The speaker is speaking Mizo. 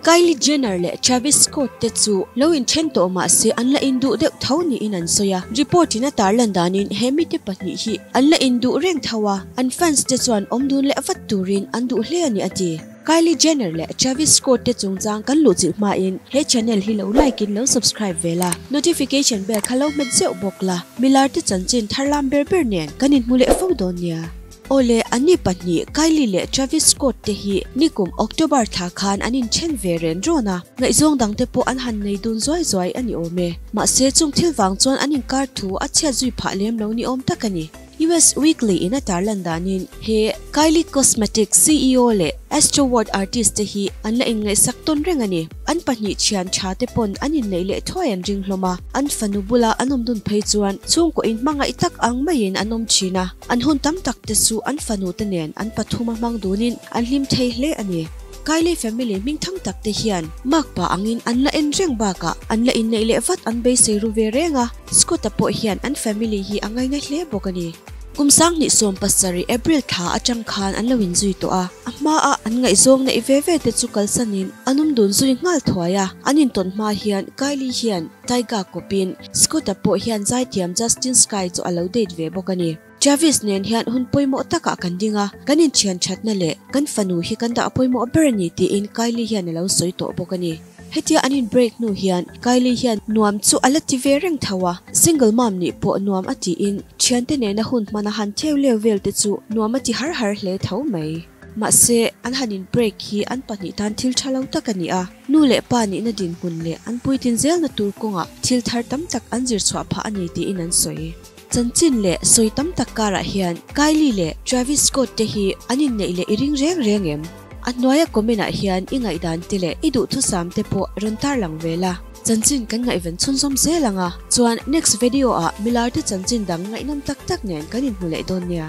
Kylie Jenner leh Travis Scott te chu lo in then tawh mah se an la in duh deuh tho niin an sawi a. Report in a tar lan danin he mite pahnih hi an la in duh reng tho a, an fans te chuan awm dun leh vat turin an duh hle a ni a ti. Kylie Jenner leh Travis Scott te chungchang kan luh chilh hmain he channel hi lo like in lo subscribe ve la, notification bell kha lo hmet zeuh bawk la, milar te chanchin tharlam ber ber nen kan inhmu leh fo dawn nia. Awle, an ni pahnih Kylie leh Travis Scott te hi ni kum October thla khan an inthen ve ren rawn a, ngaihzawng dang te pawh an han nei dun zuai zuai a ni awm e, mahse chung thil vang chuan an inkar thu a chhiat zui phah lem lo ni awm tak a ni. US Weekly in a tar lan danin, he Kylie Cosmetics CEO leh Astro World artist te hi an la inngaihsak tawn reng a ni. An pahnih thian tha te pawn an inneih leh thuai an ring hlawm a, an fanu bula an awmdun phei chuan chhungkawihin hmangaih tak ang maiin an awm thin a, an hun tam tak te chu an fanu te nen an pathuma hmang dunin an hlim thei hle a ni. Kylie family hming tham tak te hian Mark pah angin an la en reng bakah an la inneih leh vat an beisei ru ve reng a, Scott-a pawh hian an family hi a ngaina hle bawk a ni. Kum Sanghnih sawm pasarih, April, tha atang khan an lo inzui tawh a. A hmaah an ngaihzawng neih ve ve te chu kalsanin an awm dun zui nghal thuai a. An intawn hma hian Kylie hian Tyga kawpin Scott-a pawh hian zaithiam Justin Sky chu a lo date ve bawk a ni. Chavis nen hian hun pawimawh takah kan ding a, kan inthian thatna leh kan fanu hi kan dah pawimawh ber a ni tiin Kylie hian a lo sawi tawh bawk a ni. Hetia an inbreak hnu hian Kylie hian nuam chu a la ti ve reng tho a, single mom nih pawh nuam a tiin thiante nena hun hman a han theu leo velte chu nuam a ti har har hle tho mai. Mahse, an han inbreak hi an pahnih tan thil tha lo tak a ni a, nu leh pa nihna dinhmun leh an puitin zelna tur kawngah thil thar tam tak an zirchhuah phah a ni tiin an sawi. Chanchin leh sawi tam tak karah hian Kylie leh Travis Scott te hi an inneih leh i ring reng reng em? A hnuaia comment ah hian i ngaihdân te leh i duhthusâm te pawh rawn tar lang ve la. Chanchin kan ngaihven chhunzawm zel ang a, chuan next vedio ah milar te chanchin dang ngaihnam tak tak nen kan inhmu leh dawn nia.